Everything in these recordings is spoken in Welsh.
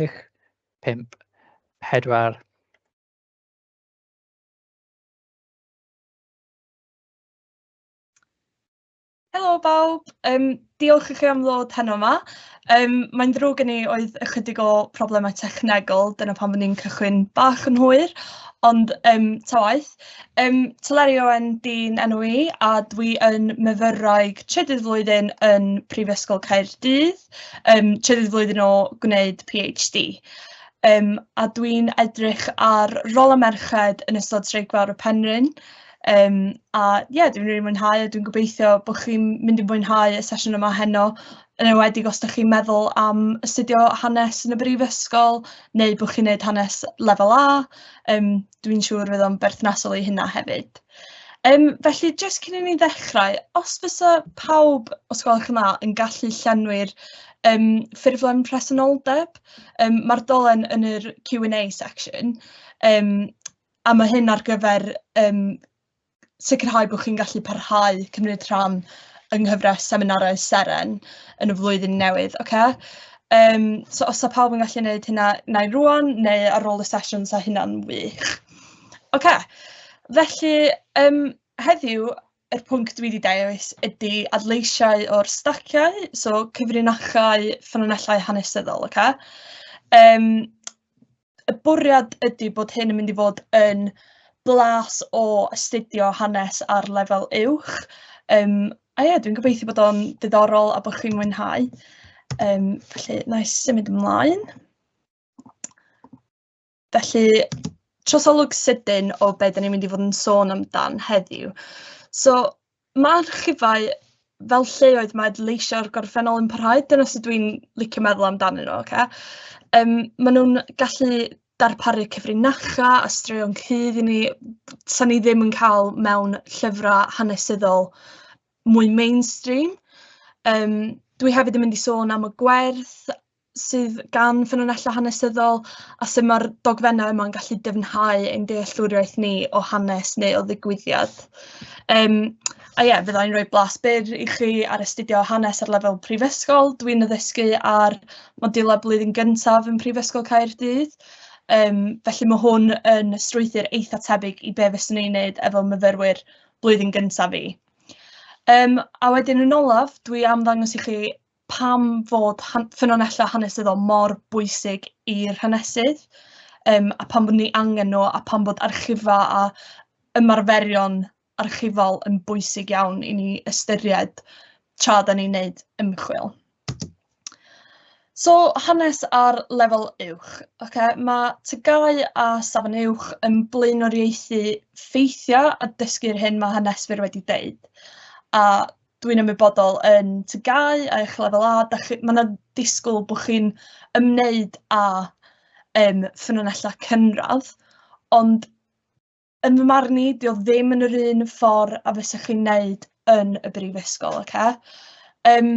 chwech, pump, pedwar. Helo bawb, um, diolch i chi am ddod heno yma. Um, mae'n ddrwg gen i oedd ychydig o problemau technegol, dyna pan fydden ni'n cychwyn bach yn hwyr, ond um, ta waith. Um, Teleri Owen di'n enw i, a dwi yn myfyrwraig trydydd flwyddyn yn Prifysgol Caerdydd. yym trydydd flwyddyn o gwneud PhD, yym a dwi'n edrych ar rôl y merched yn ystod Streic Fawr y Penrhyn, yym a ie dwi'n rili mwynhau a dwi'n gobeithio bod chi'n mynd i fwynhau y sesiwn yma heno, yn enwedig os dach chi'n meddwl am astudio hanes yn y brifysgol neu bod chi'n wneud hanes lefel A yym dwi'n siŵr fydd o'n berthnasol i hynna hefyd. Um, felly, jyst cyn i ni ddechrau, os fysa pawb, os gwelwch yn dda, yn gallu llenwi'r um, ffurflen presenoldeb, um, mae'r dolen yn yr Q&A section, um, a mae hyn ar gyfer um, sicrhau bod chi'n gallu parhau cymryd rhan yng nghyfres seminarau Seren yn y flwyddyn newydd, oce? Yym, so os 'sa pawb yn gallu neud hynna, wna i rŵan neu ar ôl y sesiwn 'sa hynna'n wych. Oce, felly yym heddiw yr pwnc dwi 'di dewis ydy adleisiau o'r staciau, so cyfrinachau, ffynonellau hanesyddol, oce? Yym. y bwriad ydy bod hyn yn mynd i fod yn blas o astudio hanes ar lefel uwch. Um, a ie, dwi'n gobeithio bod o'n ddiddorol a bod chi'n mwynhau. Um, felly, na i symud ymlaen. Felly, trosolwg sydyn o beth ni'n mynd i fod yn sôn amdan heddiw. So, Mae archifau fel lleoedd mae leisio'r gorffennol yn parhau, dyna sut dwi'n licio meddwl amdanyn nhw ocê. Yym maen nhw'n gallu darparu cyfrinachau a straeon cudd i ni 'sa ni ddim yn cael mewn llyfrau hanesyddol mwy mainstream. Yym dwi hefyd yn mynd i sôn am y gwerth. sydd gan ffynonellau hanesyddol a sut mae'r dogfennau yma'n gallu dyfnhau ein dealltwriaeth ni o hanes neu o ddigwyddiad. Um, a ie, yeah, fydda i'n rhoi blas byr i chi ar astudio hanes ar lefel prifysgol. Dwi'n addysgu ar modiwlau blwyddyn gyntaf yn Prifysgol Caerdydd. Um, felly mae hwn yn strwythyr eitha tebyg i be fyswn i'n neud efo myfyrwyr blwyddyn gyntaf fi. Um, a wedyn yn olaf, dwi am ddangos i chi pam fod han- ffynonellau hanesyddol mor bwysig i'r hanesydd um, a pam bod ni angen nhw a pam bod archifa a ymarferion archifol yn bwysig iawn i ni ystyried tra da ni'n neud ymchwil. So, hanes ar lefel uwch. Okay? Mae tygau a safon uwch yn blaenoriaethu ffeithiau a dysgu'r hyn mae haneswyr wedi deud. A dwi'n ymwybodol yn TGAU a eich lefel A, da chi, mae yna disgwyl bod chi'n ymwneud â um, ffynonellau cynradd, ond yn fy marn i, di o ddim yn yr un ffordd a fysa chi'n neud yn y brifysgol, oce? Okay? Um,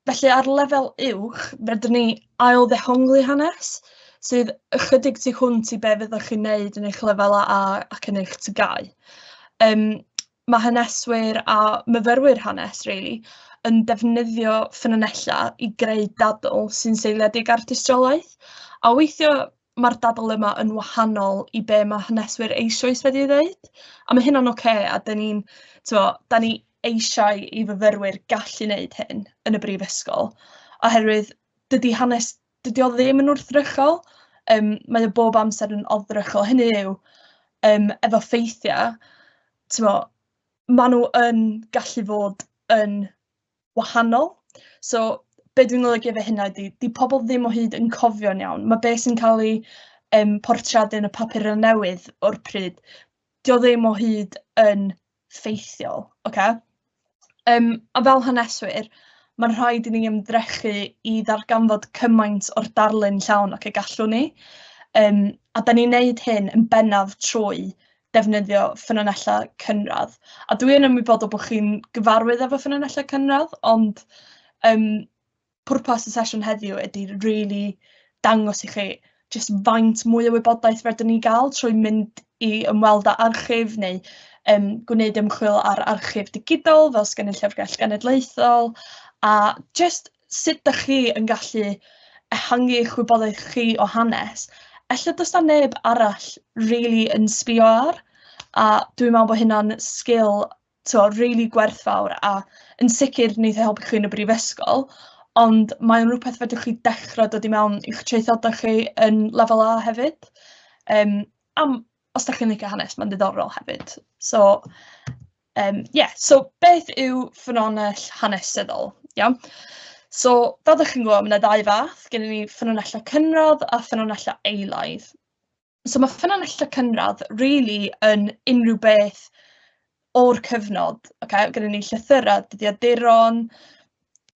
felly ar lefel uwch, fedrwn ni ail ddehongli hanes sydd ychydig tu hwnt i be fyddwch chi'n neud yn eich lefel A ac yn eich tygau. Um, ma' haneswyr a myfyrwyr hanes rili yn defnyddio ffynonellau i greu dadl sy'n seiliedig ar dystiolaeth, a weithio ma'r dadl yma yn wahanol i be ma' haneswyr eisoes wedi ei ddeud, a ma' hynna'n ocê a 'dan ni'n t'mo' 'dan ni eisiau i fyfyrwyr gallu neud hyn yn y brifysgol oherwydd dydi hanes dydi o ddim yn wrthrychol, um, mae o bob amser yn oddrychol, hynny yw, um, efo ffeithiau, ti'n mo, maen nhw yn gallu fod yn wahanol. So, be dwi'n golygu efo hynna ydy, di pobl ddim o hyd yn cofio'n iawn. Mae beth sy'n cael ei um, portreadu yn y papur yn newydd o'r pryd, dio ddim o hyd yn effeithiol, ocê? Yym, a fel haneswyr, mae'n rhaid i ni ymdrechu i ddarganfod cymaint o'r darlun llawn ac y gallwn ni. Um, a da ni'n neud hyn yn bennaf trwy defnyddio ffynonellau cynradd. A dwi yn ymwybodol bod chi'n gyfarwydd efo ffynonellau cynradd, ond um, pwrpas y sesiwn heddiw ydy really dangos i chi jyst faint mwy o wybodaeth rydyn ni gael trwy mynd i ymweld â archif neu um, gwneud ymchwil ar archif digidol fel sgan y Llyfrgell Genedlaethol a jyst sut ydych chi yn gallu ehangu eich wybodaeth chi o hanes. Ella does na neb arall really yn sbio ar a dwi'n meddwl bod hynna'n sgil so, really gwerthfawr a yn sicr wneith e helpu chi yn y brifysgol, ond mae'n rhywbeth fedrwch chi dechrau dod i mewn i'ch traethodau chi yn lefel A hefyd. Um, am, os da chi'n licio hanes, mae'n ddiddorol hefyd. So, um, yeah, so beth yw ffynonell hanesyddol? Iawn. So, fel ydych chi'n gwybod, mae yna ddau fath. Gen ni ffynonellau cynradd a ffynonellau eilaidd. So ma' ffynonellau cynradd rili yn unrhyw beth o'r cyfnod, ocê, gyda ni llythyrau, dyddiaduron,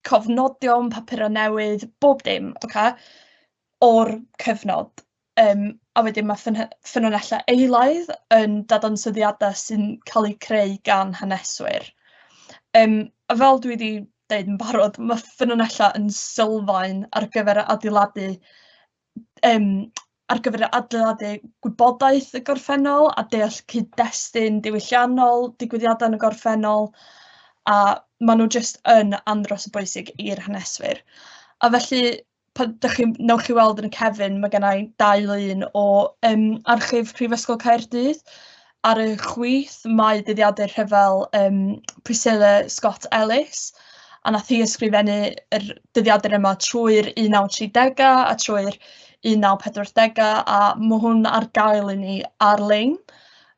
cofnodion, papurau newydd, bob dim, ocê, o'r cyfnod. Yym a wedyn ma' ffynho- ffynonellau eilaidd yn dadansoddiadau sy'n cael eu creu gan haneswyr. Yym a fel dwi 'di deud yn barod, ma' ffynonellau yn sylfaen ar gyfer adeiladu yym ar gyfer adeiladu gwybodaeth y gorffennol a deall cyd-destun diwylliannol digwyddiadau yn y gorffennol a maen nhw jyst yn andros o bwysig i'r haneswyr. A felly pan dach chi'n... wnewch chi weld yn y cefyn ma' gynna i dau lun o yym archif Prifysgol Caerdydd. Ar y chwith, mae dyddiadau rhyfel um, Priscilla Scott Ellis, a nath hi ysgrifennu yr dyddiadau yma trwy'r 1930au a trwy'r 1940au, a mae hwn ar gael i ni ar-lein.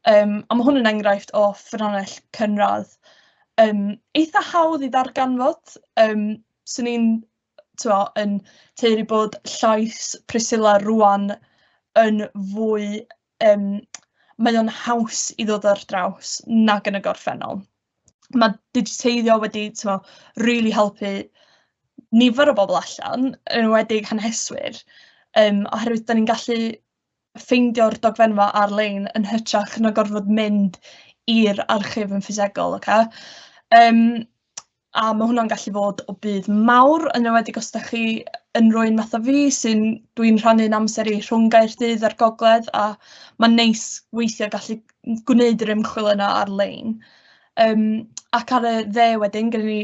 Um, a mae hwn yn enghraifft o ffynhonnell cynradd um, eitha hawdd i ddarganfod. Um, Swn i'n yn teiri bod llais Priscilla rwan yn fwy yym, mae o'n haws i ddod ar draws nag yn y gorffennol. Mae digiteiddio wedi, timod, rili helpu nifer o bobl allan, yn enwedig haneswyr, yym, oherwydd dan ni'n gallu ffeindio'r dogfennfa ar-lein yn hytrach na gorfod mynd i'r archif yn ffisegol, ocê? Yym. a ma' hwnna'n gallu fod o budd mawr yn enwedig os 'dach chi yn rywun fatha fi sy'n dwi'n rhannu'n amser i rhwng Gaerdydd a'r gogledd a ma'n neis weithie gallu gwneud yr ymchwil yna ar-lein yym ac ar y dde wedyn gynnon ni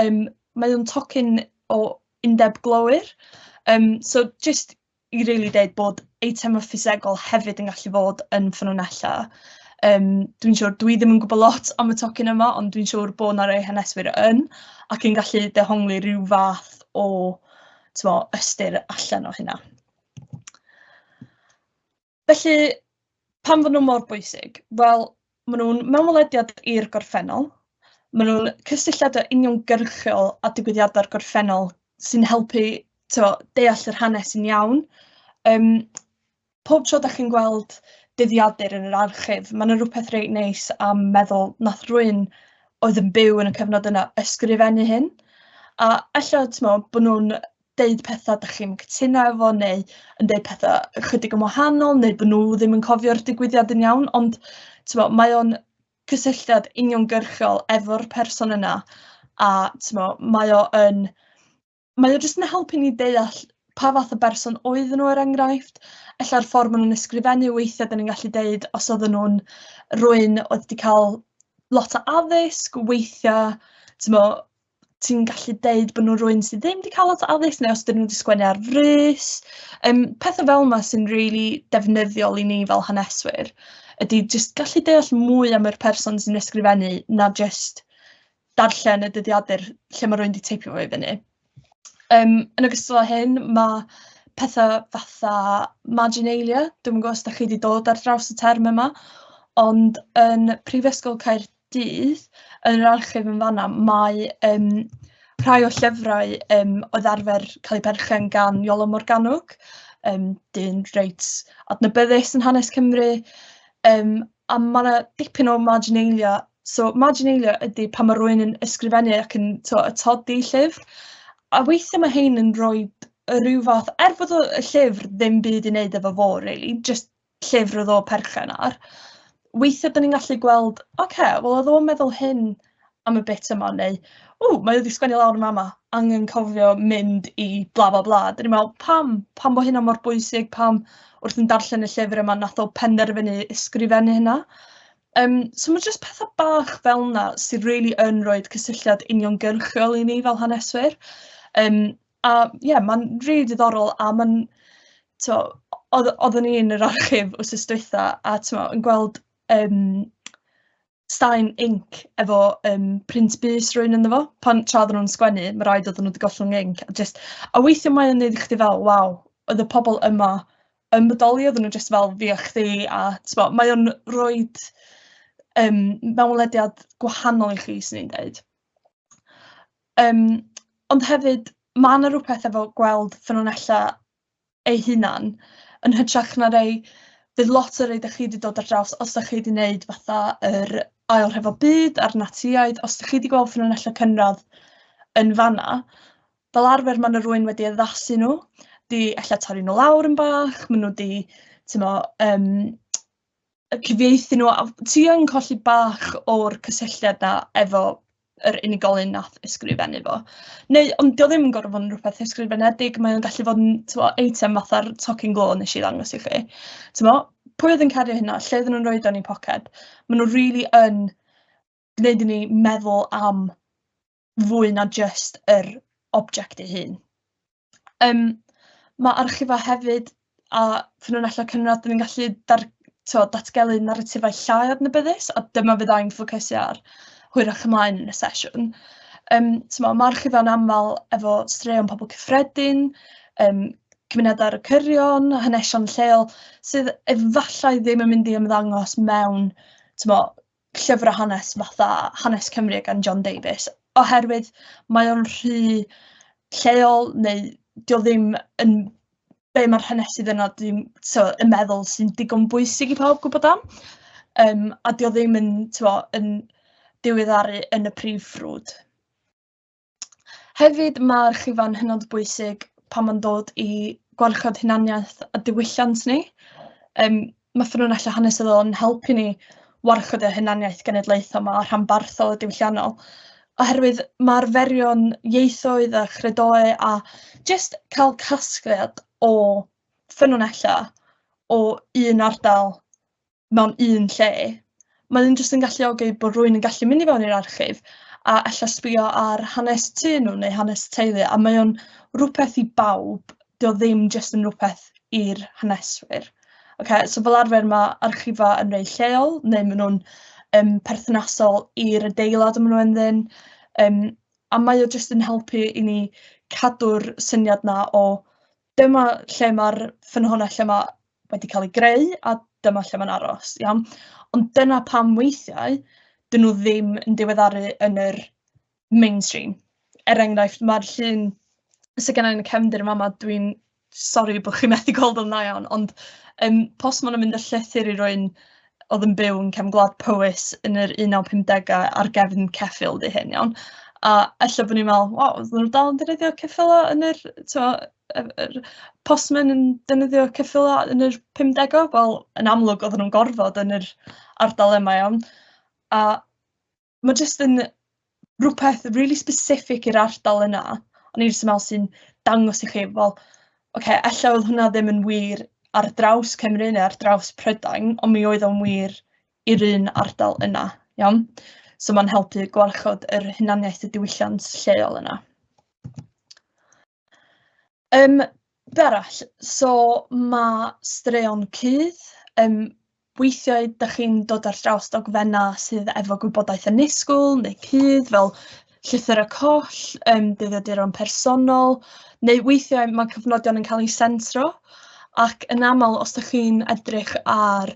yym mae o'n tocyn o undeb glowyr yym so jyst i rili dweud bod eitemau ffisegol hefyd yn gallu fod yn ffynonellau. Um, dwi'n siŵr, dwi ddim yn gwybod lot am y tocyn yma, ond dwi'n siŵr bod yna rei haneswyr yn, ac yn gallu dehongli rhyw fath o tymo, ystyr allan o hynna. Felly, pam fod nhw mor bwysig? Wel, maen nhw'n mewnwelediad i'r gorffennol. Maen nhw'n cysylltiadau uniongyrchol â digwyddiadau'r gorffennol sy'n helpu t'mo' deall yr hanes yn iawn. Yym pob tro dach chi'n gweld dyddiadur yn yr archif, ma' 'na rwpeth reit neis am meddwl nath rywun oedd yn byw yn y cyfnod yna ysgrifennu hyn, a ella t'mo' bo' nhw'n deud pethau dych chi'n cytuno efo neu yn deud pethau ychydig yn wahanol neu bod nhw ddim yn cofio'r digwyddiad yn iawn ond t'mo' mae o'n cysylltiad uniongyrchol efo'r person yna a t'mo' mae o yn mae o jyst yn helpu ni deall pa fath o berson oedden nhw er enghraifft ella'r ffordd ma' nw'n ysgrifennu weithia' 'dan ni'n gallu deud os odden nhw'n rywun oedd 'di ca'l lot o addysg weithia' t'mo' ti'n gallu deud bod nhw'n rhywun sydd ddim wedi cael lot o addysg neu os dyn nhw wedi sgwennu ar frys. Um, pethau fel yma sy'n rili really defnyddiol i ni fel haneswyr ydy jyst gallu deall mwy am yr person sy'n ysgrifennu na jyst darllen y dyddiadur lle mae rhywun wedi teipio fo i fyny. Um, yn ogystal â hyn, mae pethau fatha marginalia, dwi'n gwybod os da chi wedi dod ar draws y term yma, ond yn Prifysgol Caerdydd dydd yn yr archif yn fan'na mae yym rhai o llyfrau yym oedd arfer cael eu perchen gan Iolo Morgannwg yym dyn reit adnabyddus yn hanes Cymru yym a ma' 'na dipyn o marginalia so marginalia ydi pan ma' rywun yn ysgrifennu ac yn t'wo' atodi llyfr a weithie ma' rhein yn rhoid yy ryw fath er bod y y llyfr ddim byd i neud efo fo rili jyst llyfr oedd o perchen ar, weithiau dyn ni'n gallu gweld, oce, okay, wel oedd o'n meddwl hyn am y bit yma, neu, ww, mae wedi sgwennu lawr yn mama, angen cofio mynd i bla bla bla. Dyn ni'n meddwl, pam? Pam bod hynna mor bwysig? Pam wrth yn darllen y llyfr yma nath o penderfynu ysgrifennu hynna? Um, so mae jyst pethau bach fel yna sy'n really yn rhoi cysylltiad uniongyrchol i ni fel haneswyr. Um, A ie mae'n rili diddorol a mae'n tibod oedd oedden ni yn yr archif wythnos dwytha a tibod yn gweld yym straen inc efo yym print bys rywun ynddo fo pan... tra oedden nhw'n sgwennu ma' raid oedden nhw 'di gollwng inc a jyst... a weithia' mae o'n neud i chdi fel waw oedd y pobl yma yn bodoli oedden nhw jyst fel fi a chdi a tibod mae o'n roid yym mewnwelediad gwahanol i chi 'swn i'n deud. Yym, ond hefyd ma' 'na rwpeth efo gweld ffynonella eu hunan yn hytrach na rei... Bydd lot o rei 'da chi 'di dod ar draws os 'da chi 'di neud fatha yr Ail Rhyfel Byd a'r Natsïaid, os 'da chi 'di gweld ffynonella cynradd yn fan'na, fel arfer ma' 'na rywun wedi addasu nhw, 'di ella torri nhw lawr yn bach, ma' nhw 'di t'mo' yym cyfieithu nhw, a ti yn colli bach o'r cysylltiad na efo yr unigolyn nath ysgrifennu fo. Neu, ond dio ddim yn gorfod fod yn rhywbeth ysgrifenedig, mae o'n gallu fod yn twa, eitem fatha'r tocyn glo nes i ddangos i chi. Twa, pwy oedd yn cario hynna, lle oedden nhw'n rhoi o'n i poced. Mae nhw rili really yn gwneud i ni meddwl am fwy na jyst yr object ei hun. Yym ma' archifau hefyd a ffynonellau cynradd yn gallu dar- t'wod datgelu naratifau llai adnabyddus a dyma fyddai'n ffocysu ar hwyrach ymlaen yn y sesiwn. Yym t'mo' ma' archifau'n aml efo straeon pobl cyffredin, yym cymunedau ar y cyrion, hanesion lleol sydd efallai ddim yn mynd i ymddangos mewn t'mo' llyfrau hanes fatha Hanes Cymru gan John Davies, oherwydd mae o'n rhy lleol neu 'di o ddim yn be mae'r hanesydd yna ddim so yn meddwl sy'n digon bwysig i pawb gwybod am, yym a 'di o ddim yn tibod yn diweddaru yn y prif ffrwd. Hefyd, mae archifau'n hynod bwysig pan mae'n dod i gwarchod hunaniaeth a diwylliant ni. Yym, mae ffynonellau hanesyddol yn helpu ni warchod y hunaniaeth genedlaethol 'ma a rhanbarthol a diwylliannol, oherwydd ma' arferion ieithoedd a chredoau a jyst cael casgliad o ffynonellau o un ardal mewn un lle, mae hyn jyst yn galluogi bod rhywun yn gallu mynd i fewn i'r archif a ella sbio ar hanes tu nhw neu hanes teulu a mae o'n rhywbeth i bawb, dio o ddim jyst yn rhywbeth i'r haneswyr. Okay, so fel arfer mae archifau yn rei lleol neu maen nhw'n um, perthnasol i'r adeilad y maen nhw ynddyn um, a mae o jyst yn helpu i ni cadw'r syniad na o Dyma lle mae'r ffynhonnell lle mae wedi cael ei greu a dyma lle mae'n aros, iawn? Ond dyna pam weithiau 'dyn nhw ddim yn diweddaru yn yr mainstream. Er enghraifft, mae'r llun sy gynna i yn y cefndir yn fama, dwi'n sori bod chi'n methu gweld o'n dda iawn, ond yym postmon yn mynd â llythyr i rywun oedd yn byw yn cefn gwlad Powys yn yr 1950au ar gefn ceffyl di hyn iawn. A ella bod ni'n meddwl, waw, oedden nhw'n dal yn defnyddio ceffylau yn yr, tibod, yr yr postmen yn defnyddio ceffylau yn yr 50au? Wel, yn amlwg oedden nhw'n gorfod yn yr ardal yma iawn. A... ma' jyst yn rhywbeth rili specific i'r ardal yna. O'n i jyst yn meddwl sy'n dangos i chi, wel, ocê, ella oedd hwnna ddim yn wir ar draws Cymru neu ar draws Prydain, ond mi oedd o'n wir i'r un ardal yna, iawn? So mae'n helpu gwarchod yr hunaniaeth y diwylliant lleol yna. Yym, be arall? So ma' straeon cudd, yym, weithiau dach chi'n dod ar draws dogfennau sydd efo gwybodaeth annisgwyl neu cudd, fel llythyr y coll, yym dyddiaduron personol, neu weithiau ma' cyfnodion yn cael eu sensro, ac yn aml os dach chi'n edrych ar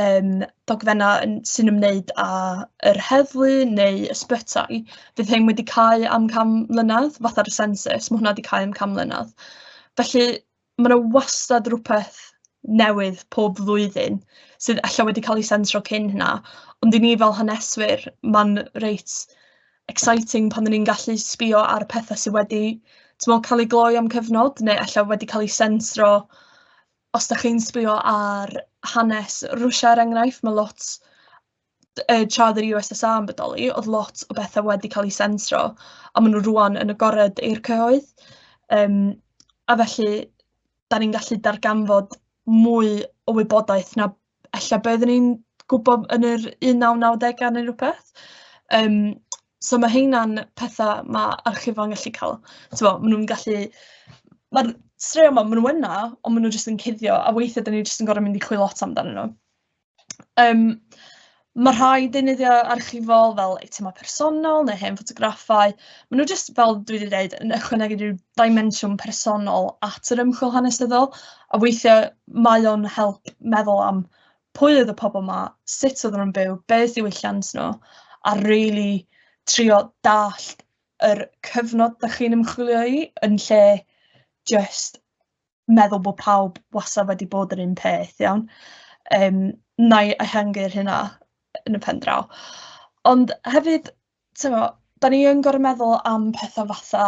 yym dogfennau yn... sy'n ymwneud â yr heddlu neu ysbytai, fydd rhein wedi cau am can mlynedd, fatha'r census, ma' hwnna 'di cau am can mlynedd. Felly ma' 'na wastad rywbeth newydd pob flwyddyn sydd ella wedi cael ei sensro cyn hynna, ond i ni fel haneswyr, ma'n reit exciting pan 'y ni'n gallu sbio ar petha sy wedi timod cael eu gloi am cyfnod, neu ella wedi cael eu sensro Os dach chi'n sbio ar hanes Rwsia er enghraifft, mae lot yy tra oedd yr USSR yn bodoli, oedd lot o bethau wedi cael eu sensro, a maen nhw rŵan yn agored i'r cyhoedd. Yym a felly dan ni'n gallu darganfod mwy o wybodaeth na ella be oedden ni'n gwybod yn yr un naw nawdegau neu rywbeth, yym so ma' heina'n petha ma' archifau'n gallu cael, tibod maen nhw'n gallu... ma'r straeon 'ma maen nhw yna, ond maen nhw jyst yn cuddio a weithiau dan ni jyst yn gorfod mynd i chwilio lot amdanyn nhw yym. Mae rhai deunyddiau archifol fel eitemau personol neu hen ffotograffau, maen nhw jyst fel dwi wedi dweud yn ychwanegu rhyw dimensiwn personol at yr ymchwil hanesyddol, a weithiau mae o'n help meddwl am pwy oedd y pobl 'ma, sut oedden nhw'n byw, be oedd diwylliant nhw, a rili trio dallt yr cyfnod dach chi'n ymchwilio i yn lle jyst meddwl bod pawb wastad wedi bod yr un peth, iawn? Yym, wna i ehangu'r hynna yn y pen draw. Ond hefyd, tibod, da ni yn gorfod meddwl am pethau fatha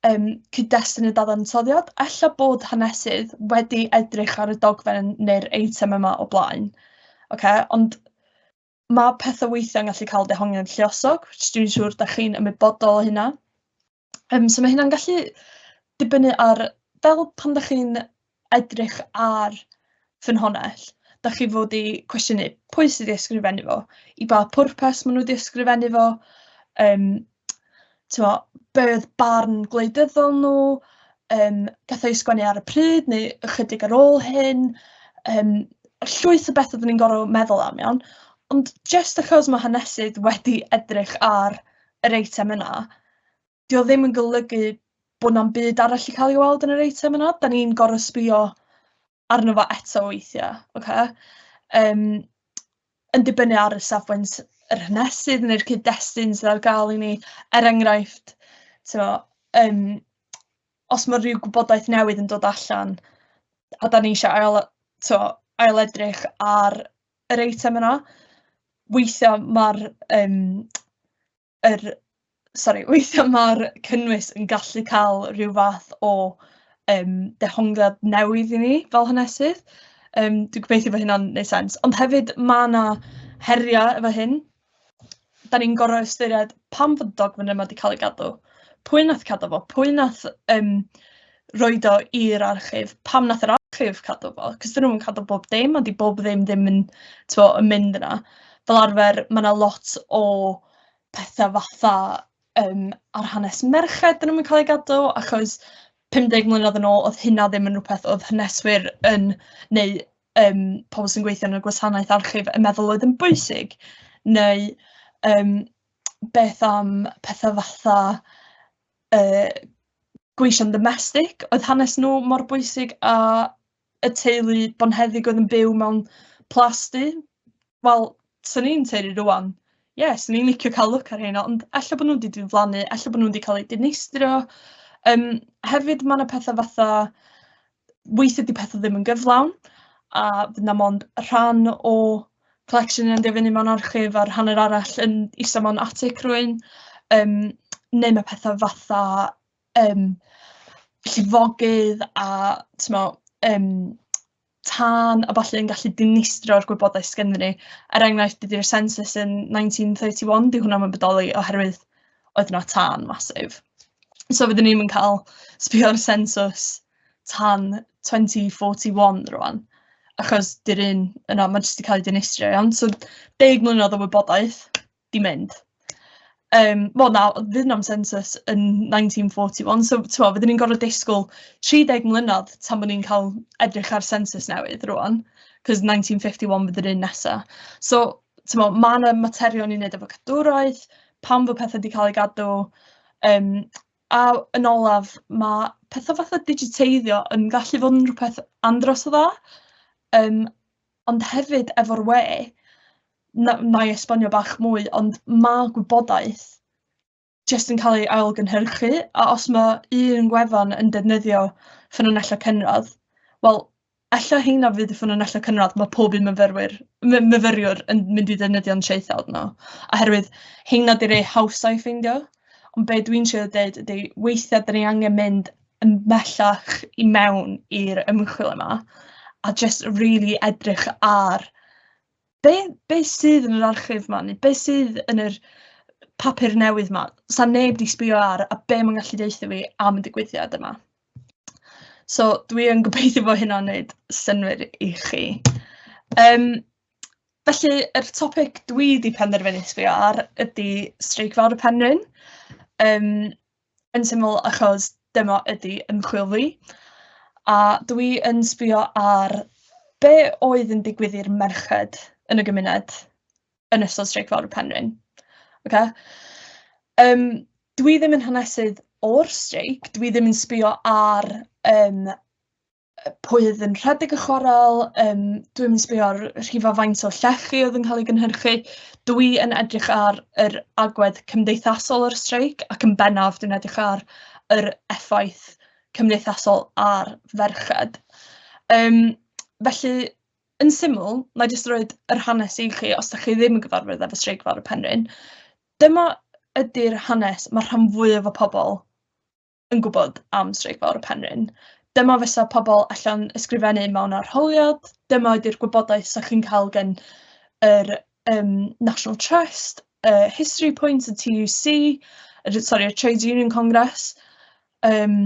yym cyd-destun y dadansoddiad. Ella bod hanesydd wedi edrych ar y dogfen neu'r eitem yma o blaen, ocê, ond ma' petha weithia'n gallu cael dehongliad lluosog, which dwi'n siŵr dach chi'n ymwybodol o hynna. Yym so mae hynna'n gallu dibynnu ar... fel pan dach chi'n edrych ar ffynhonnell, dach chi fod i cwestiynu pwy sydd 'di ysgrifennu fo, i ba pwrpas maen nhw 'di ysgrifennu fo, yym tibod be oedd barn gwleidyddol nhw, yym beth o'i sgwennu ar y pryd neu ychydig ar ôl hyn, yym llwyth o betha 'da ni'n gorfod meddwl am iawn, ond jyst achos ma' hanesydd wedi edrych ar yr eitem yna... 'di o ddim yn golygu bod na'm byd arall 'di ca'l 'i weld yn yr eitem yna 'dan ni'n gor'o' sbïo arno fo eto weithia' ocê yym yn dibynnu ar y safbwynt yr hanesydd ne'r cyd-destun sydd ar ga'l i ni er enghraifft t'mo' yym os ma' ryw gwybodaeth newydd yn dod allan a 'dan ni isio ail y- t'o' ail edrych ar yr eitem yna weithia' ma'r yym yr... sori, weithiau ma'r cynnwys yn gallu cael rhyw fath o yym dehongliad newydd i ni fel hanesydd, yym dwi'n gobeithio bod hynna'n wneud sens. Ond hefyd ma' 'na heriau efo hyn, dan ni'n gorfod ystyried pam fod y dogfen yma 'di cael ei gadw, pwy wnaeth cadw fo, pwy wnaeth yym roid o i'r archif. Pam wnaeth yr archif cadw fo? Cos 'dyn nhw'm yn cadw bob dim, a 'di bob ddim ddim yn t'mo' yn mynd yna. Fel arfer ma' 'na lot o petha fatha yym ar hanes merched 'dyn nhw'm yn ca'l eu gadw achos pum deg mlynedd yn ôl o'dd hynna ddim yn rwbeth o'dd haneswyr yn neu yym pobol sy'n gweithio yn y gwasanaeth archif yn meddwl oedd yn bwysig neu yym beth am petha fatha yy gweision ddomestig, oedd hanes nhw mor bwysig a y teulu bonheddig oedd yn byw mewn plas du? Wel, 'swn i'n tueddu rŵan, ie, 'swn i'n licio cael look ar rheina, ond ella bod nhw 'di diflannu, ella bod nhw 'di cael eu dinistrio. Yym, hefyd ma' 'na petha fatha weithiau 'di petha ddim yn gyflawn, a fydd 'na mond rhan o collection yn mynd i fyny mewn archif a'r hanner arall yn ista mewn atig rhywun, yym neu ma' petha fatha yym llifogydd a timod yym tân a ballu yn gallu dinistrio'r gwybodaeth sy ganddi ni, er enghraifft dydi'r census yn nineteen thirty one 'di hwnna ddim yn bodoli oherwydd oedd 'na tân massive. So fydden ni'm yn cael sbio ar sensws tan 2041 rŵan, achos 'di'r un yna, ma' jyst 'di cael ei dinistrio iawn. So deg mlynedd o wybodaeth 'di mynd. Yym, wel na, fydd na'm sensws yn 1941, so tibod fydden ni'n gorfod disgwyl 30 mlynedd tan bod ni'n cael edrych ar sensws newydd rŵan, cos 1951 fydd yr un nesa. So... Timod, ma' 'na materion i wneud efo cadwraeth, pam fod petha 'di cael eu gadw, yym, a yn olaf, ma' petha fatha digiteiddio yn gallu bod yn rywbeth andros o dda, yym, ond hefyd efo'r we, na- wna i esbonio bach mwy, ond ma' gwybodaeth... jyst yn cael ei ailgynhyrchu, a os ma' un gwefan yn defnyddio ffynonellau cynradd, wel, ella heina fydd y ffynonellau cynradd ma' pob un myfyrwyr my- myfyriwr yn mynd i ddefnyddio'n traethawd nhw, oherwydd heina 'di rhai hawsa i ffeindio. Ond be dwi'n trio deud ydy, weithiau 'dan ni angen mynd yn bellach i mewn i'r ymchwil yma, a jyst rili edrych ar be be sydd yn yr archif 'ma neu be sydd yn yr papur newydd 'ma, 'sa neb 'di sbio ar a be ma'n gallu deutha fi am y digwyddiad yma. So dwi yn gobeithio bod hynna'n wneud synnwyr i chi. Um, felly, yr topic dwi wedi penderfynu sbio ar ydy Streic Fawr y Penrhyn. Um, Yn syml achos dyma ydi ymchwil fi a dw i yn sbio ar be oedd yn digwydd i'r merched yn y gymuned yn ystod Streic Fawr y Penrhyn. Ocê? Yym dw i ddim yn hanesydd o'r streic, dw i ddim yn sbio ar yym pwy oedd yn rhedeg y chwarel, yym, dwi'm yn sbio ar rhifa faint o llechi oedd yn cael ei gynhyrchu, dwi yn edrych ar yr agwedd cymdeithasol o'r streic ac yn bennaf dwi'n edrych ar yr effaith cymdeithasol ar ferched. Yym felly, yn syml, wna i jyst roid yr hanes i chi os dach chi ddim yn gyfarwydd efo Streic Fawr y Penrhyn. Dyma ydy'r hanes mae'r rhan fwyaf o pobl yn gwybod am Streic Fawr y Penrhyn. Dyma fysa pobl allan ysgrifennu mewn arholiad, dyma ydy'r gwybodaeth 'sa chi'n cael gan yr yym National Trust, y History Point, y TUC, y sori y Trades Union Congress, yym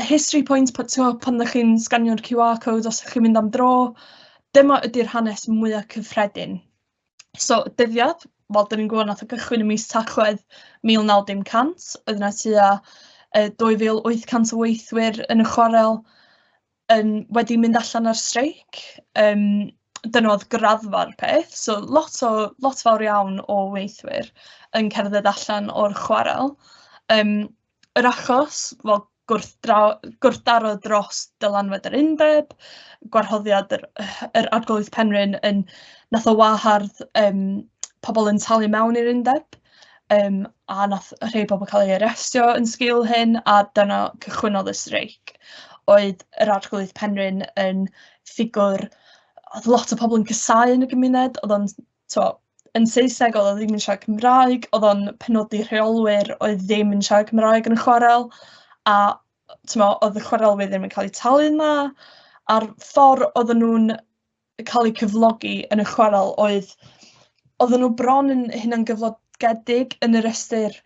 y History Point pan timod pan dach chi'n sganio'r QR code os dach chi'n mynd am dro, dyma ydy'r hanes mwya cyffredin. So dyddiad, wel dan ni'n gwybod wnaeth o gychwyn ym mis Tachwedd 1900, oedd yna tua yy 2,800 o weithwyr yn y chwarel yn wedi mynd allan ar streic, yym dyna oedd graddfa'r peth, so lot o lot fawr iawn o weithwyr yn cerdded allan o'r chwarel, yym. yr achos, fel gwrthdra- gwrthdaro dros dylanwad yr undeb, gwarhoddiad yr yr Arglwydd Penrhyn yn... wnaeth o wahardd yym pobl yn talu mewn i'r undeb, yym a wnaeth rhai pobl cael eu arestio yn sgil hyn, a dyna cychwynnodd y streic. Oedd yr Arglwydd Penrhyn yn ffigwr oedd lot o pobl yn casáu yn y gymuned, oedd o'n tibod, yn Saesneg, oedd o ddim yn siarad Cymraeg, oedd o'n penodi rheolwyr oedd ddim yn siarad Cymraeg yn y chwarel, a timo, oedd y chwarelwyr ddim yn cael eu talu'n dda, a'r ffordd oedden nhw'n cael eu cyflogi yn y chwarel oedd, oedden nhw bron yn hunangyflogedig yn yr ystyr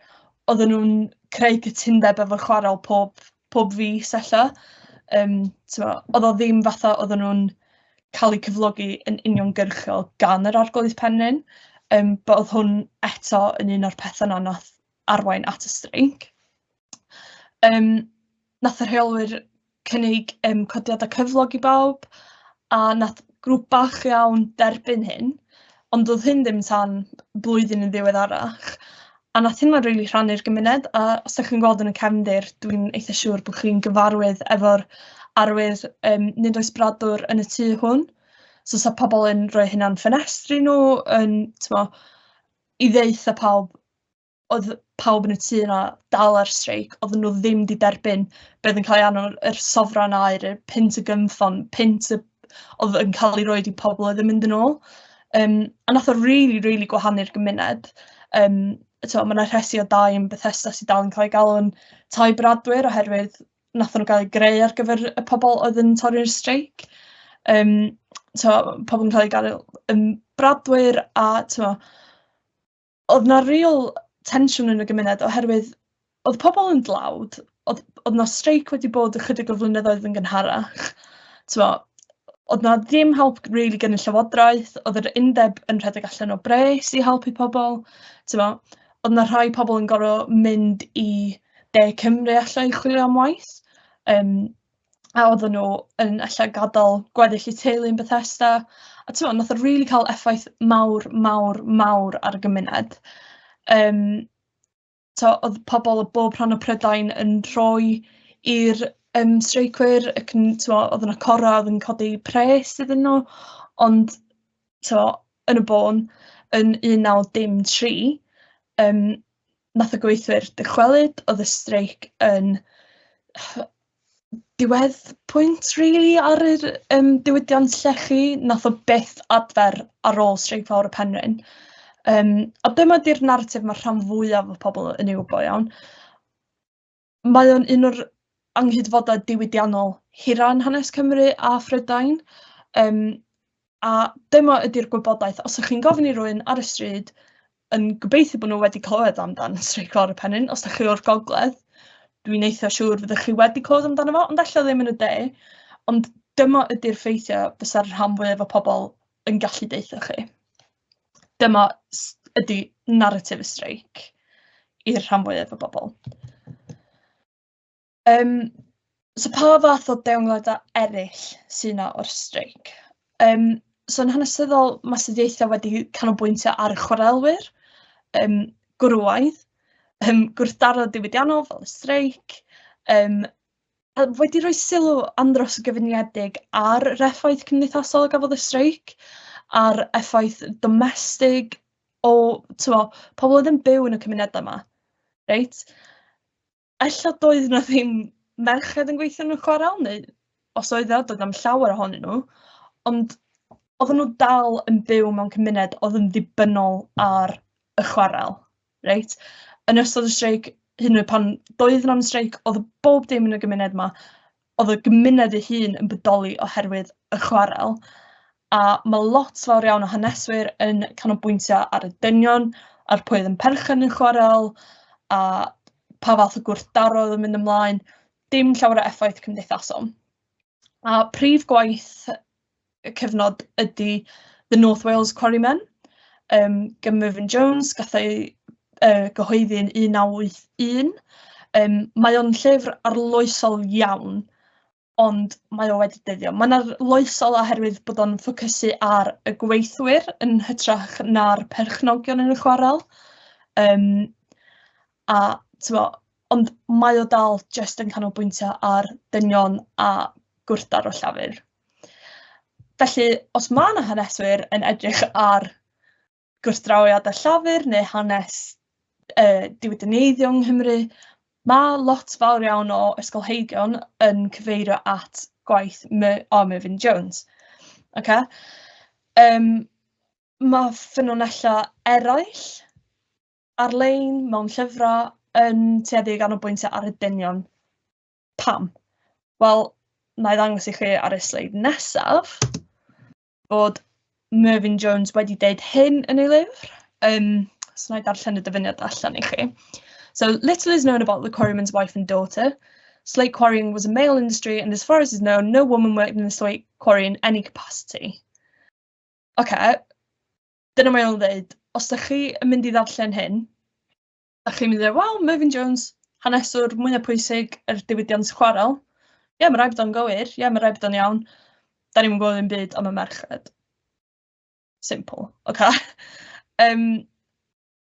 oedden nhw'n creu cytundeb efo chwarel pob pob fis ella. Yym, tibod, oedd o ddim fatha oedden nhw'n cael eu cyflogi yn uniongyrchol gan yr Arglwydd Penrhyn, yym, but oedd hwn eto yn un o'r petha 'na wnaeth arwain at y streic. Yym, wnaeth y rheolwyr cynnig yym codiadau cyflog i bawb, A wnaeth grŵp bach iawn dderbyn hyn, ond doedd hyn ddim tan blwyddyn yn ddiweddarach, a wnaeth hynna rili rhannu'r gymuned, a os dach chi'n gweld yn y cefndir, dwi'n eitha siŵr bod chi'n gyfarwydd efo'r arwydd yym nid oes bradwr yn y tŷ hwn, so 'sa pobl yn rhoi hynna'n ffenestri nhw, yn tibod, i ddweutha pawb... oedd pawb yn y tŷ yna dal ar streic, oedden nhw ddim wedi derbyn beth yn cael ei annog, yr sofran air, y pint y gymffon, pint y... oedd yn cael ei roed i pobl oedd yn mynd yn ôl. Um, a nath o really, really gwahanu'r gymuned. Um, mae yna rhesi o dau yn Bethesda sydd dal yn cael ei galw'n tai bradwyr oherwydd nath nhw gael ei greu ar gyfer y pobl oedd yn torri'r streic. Um, so, pobl yn cael ei gael yn bradwyr a tyma, oedd 'na real tensiwn yn y gymuned oherwydd oedd pobl yn dlawd, oedd oedd 'na streic wedi bod ychydig o flynyddoedd yn gynharach, tibod, oedd 'na ddim help rili gan y llywodraeth, oedd yr undeb yn rhedeg allan o bres i helpu pobl, tibod, oedd 'na rhai pobl yn gorfod mynd i De Cymru alla i chwilio am waith, yym. a oedden nhw yn ella gadael gweddill eu teulu yn Bethesda, a ti'n meddwl, nath o rili cael effaith mawr, mawr, mawr ar y gymuned. Um, to, oedd pobl o bob rhan o Prydain yn rhoi i'r um, streicwyr, ac yn, to, oedd yna cora, oedd yn codi pres iddyn nhw, ond to, yn y bôn, yn 1913, um, wnaeth y gweithwyr dychwelyd, oedd y streic yn diwedd pwynt rili really, ar yr um, diwydiant llechi, nath o byth adfer ar ôl streic fawr y penrhyn. Um, a dyma di'r narratif mae'r rhan fwyaf o pobl yn ei wybod iawn. Mae o'n un o'r anghydfodau diwydiannol hira yn hanes Cymru a Phrydain, yym, a dyma ydy'r gwybodaeth. Os ydych chi'n gofyn i rywun ar y stryd yn gobeithio bod nhw wedi clywed amdan Streic Lawr y Pennyn, os ydych chi o'r gogledd, dwi'n eitha siŵr fyddwch chi wedi clywed amdano fo, ond ella ddim yn y de. Ond dyma ydy'r ffeithiau fysa'r rhan fwyaf o pobl yn gallu deutha chi. dyma s- ydy naratif y streic i'r rhan fwyaf o bobl. Yym, so pa fath o deimladau eraill sy'n yna o'r streic? Yym, so yn hanesyddol, mae astudiaethau wedi canolbwyntio ar y chwarelwyr, yym, gwrywaidd, yym, gwrthdaro diwydiannol fel y streic, yym, wedi rhoi sylw andros o gyfuniedig ar yr effaith cymdeithasol a gafodd y streic, a'r effaith domestig o, tyfo, pobl oedd yn byw yn y cymunedau yma, reit? Ella doedd yna ddim merched yn gweithio yn y chwarel, neu os oedd yna, doedd am llawer ohonyn nhw, ond oedden nhw dal yn byw mewn cymuned oedd yn ddibynnol ar y chwarel. Reit, yn ystod y streic, hyd yn oed pan doedd yna ddim streic, oedd bob dim yn y gymuned 'ma, oedd y gymuned ei hun yn bodoli oherwydd y chwarel, a ma' lot fawr iawn o haneswyr yn canolbwyntio ar y dynion a'r pwy oedd yn perchen yn chwarel, a pa fath o gwrthdaro oedd yn mynd ymlaen, dim llawer o effaith cymdeithasol. A prif gwaith y cyfnod ydy The North Wales Quarrymen, um, gan Mervyn Jones, gath ei uh, gyhoeddi yn 1981. Um, mae o'n llyfr arloesol iawn, ond mae o wedi dyddio. Mae'n arloesol oherwydd bod o'n ffocysu ar y gweithwyr yn hytrach na'r perchnogion yn y chwarel. Um, A tibod, ond mae o dal jyst yn canolbwyntio ar dynion a gwrthdaro llafur. Felly, os mae yna haneswyr yn edrych ar gwrthdrawiad a llafur neu hanes uh, diwydineiddio yng Nghymru, mae lot fawr iawn o ysgolheigion yn cyfeirio at gwaith My o Merfyn Jones. Okay? Um, mae ffynonellau eraill ar-lein, mewn llyfrau, yn tueddu i ganolbwyntio ar y dynion. Pam? Wel, na i ddangos i chi ar y sleid nesaf bod Mervyn Jones wedi deud hyn yn ei lyfr. Um, so na i darllen y dyfyniad allan i chi. So little is known about the quarryman's wife and daughter. Slate quarrying was a male industry and as far as is known, no woman worked in the slate quarry in any capacity. OK, dyna mae o'n ddeud, os dach chi yn mynd i ddarllen hyn, dach chi'n mynd i ddeud, waw, Merfyn Jones, haneswr mwyaf pwysig yr er diwydiant chwarael. Ie, yeah, mae rhaid bod o'n gywir, ie, yeah, mae rhaid bod o'n iawn. Da ni'n gwybod yn byd am y merched. Simple, oce? Okay? um,